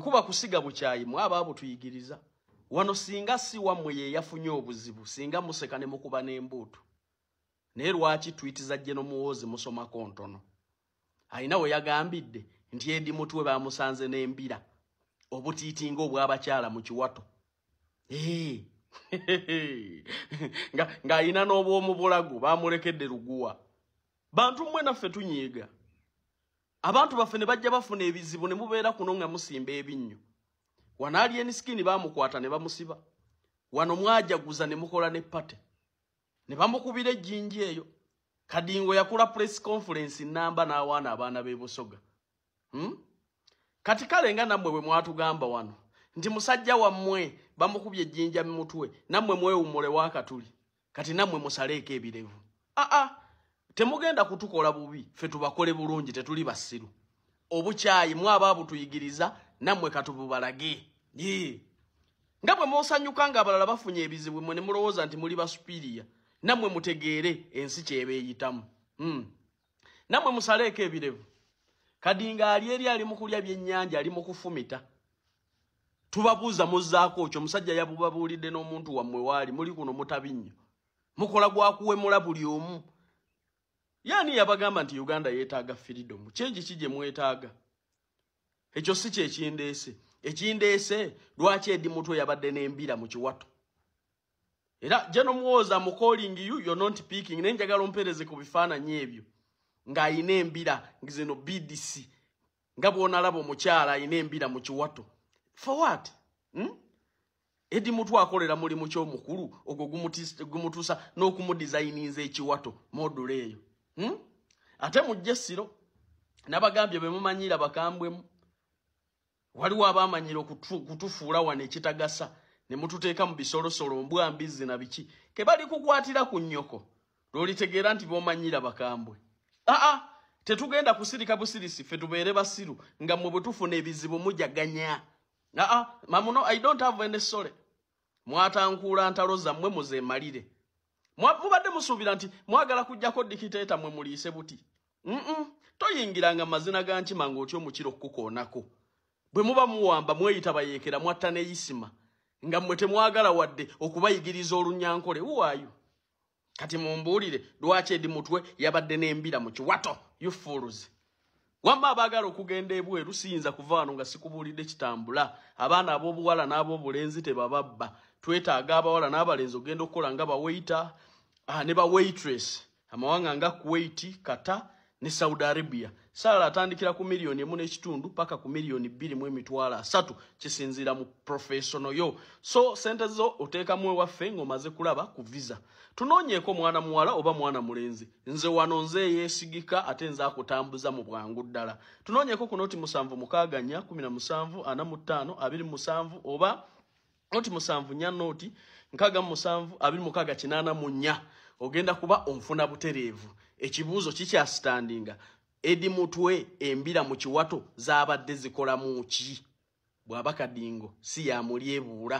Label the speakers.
Speaker 1: Kuba kusiga bukyayi mwa abaabo tuyigiriza. Wano singa si wamwe ye yafunye obuzibu singa museka ne mukuba n'embuutu. Naye lwaki twiti za jeno muwoozi musoma kontono. Alina we yagambidde nti edi mutwe bamusanze n'embira obutiitinga obw'abakyala mu kiwato. Eee. nga ng'alina n'obw'omu bulago bamulekedde luguwa. Bantu mmwe naffe tunyiiga. abantu baffe ne bajja bafuna ebizibu ne mubeera kuno nga musimba ebinnyo wano alien skin bamukwata ne bamusiba wano mwajaguza ne mukola ne pate ne bamukubira ejjinji eyo kadingo yakula press conference namba n'awaana abaana b'e busoga hmm? kati kale nga nammwe bwe mwatugamba wano nti musajja wammwe bamukubye ejjinja mu mutwe nammwe mwewummule waakatuli kati namwe musaleeko ebirevu aa ah, ah. temugenda kutukola bubi fe tubakole bulungi tetuli basiru obukyayi mwaba abutuyigiriza nammwe katububalage nga bwe musanyuka nga abalala bafunye ebizibu mwe ne mulowooza nti muli basupiriya nammwe mutegeere ensi kyeba eyitamu hmm. nammwe musaleeko ebirevu kadinga ali eri ali mukulya byennyanja ali mukufumita tubabuuza muzaako okyo omusajja yabubabuulidde n'omuntu wammwe waali muli kuno mutabinnyo mukola gwakuwemula buli omu yaani yabagamba nti uganda yeetaaga firidomu kyengi ki gye mwetaaga ekyo si kyekindeese ekindeese lwaki edi mutwe yabadde n'embira mu kiwato era jeno muwooza mu calling you you're not picking naye njagala ompereze ku bifaananyi ebyo ng'alina embira zino bdc nga bwonalaba omukyala alina embira mu kiwato for what hmm? edi mutu akolera mulimu kyomukulu ogwo gumutuusa n'okumudizayininza ekiwato modula eyo hmm? ate mujja essiro nabagambye bemumanyira bakambwemu waliwo abamanyira okutufuula wano ekitagasa ne mututeeka mu bisolosolo mbwa mbizzi na biki kebali kukwatira ku nnyoko lwolitegeera nti bomanyira bakambwe aa tetugenda kusirika busirisi fe tubeere basiru nga mwe bwetufuna ebizibu mujaganya aa mamuno i don't have any sole mwatankuula ntalo zammwe muzemalire mubadde musuubira nti mwagala kujjako dikiteeta mwe muliise buti mm toyingiranga mazina ga nkima ngaotya omukira okukukoonako bwe muba muwamba mweyita bayeekera mwatta neyisima nga mmwe temwagala wadde okubayigiriza olunyankole uwayo kati mumbuulire lwaki edi mutwe yabadde n'embira mu kiwato you fools wamma abaagala okugenda ebweru siyinza kuva wano nga sikubuulidde kitambula abaana ab'obuwala n'ab'obulenzi tebababba twetaaga abawala n'abalenzi okugenda okukola nga baweyita ah, ne bawaitress amawanga nga kuwaiti kata ne saudi arabia saala atandikira ku miliyoni emu n'ekitundu paka ku miliyoni bbiri mu emitwalo asatu kisinziira mu professiono yo so sente zo oteekamu ewaffe ng'omaze kulaba ku visa tunoonyeeko mwana muwala oba mwana mulenzi nze wano nze eyeesigika ate nze akutambuza mu bwangu ddala tunoonyeeko ku noti musanvu mukaaga nnya kumi na musanvu ana mu ttaano abiri musanvu oba noti musanvu nya noti nkaga musanvu abiri mukaga kinana munya ogenda kuba onfuna buterevu ekibuzo kikya standing edi mutwe embira mu kiwato zabadde zikola mu ki bwabakadingo si ya mulyebuula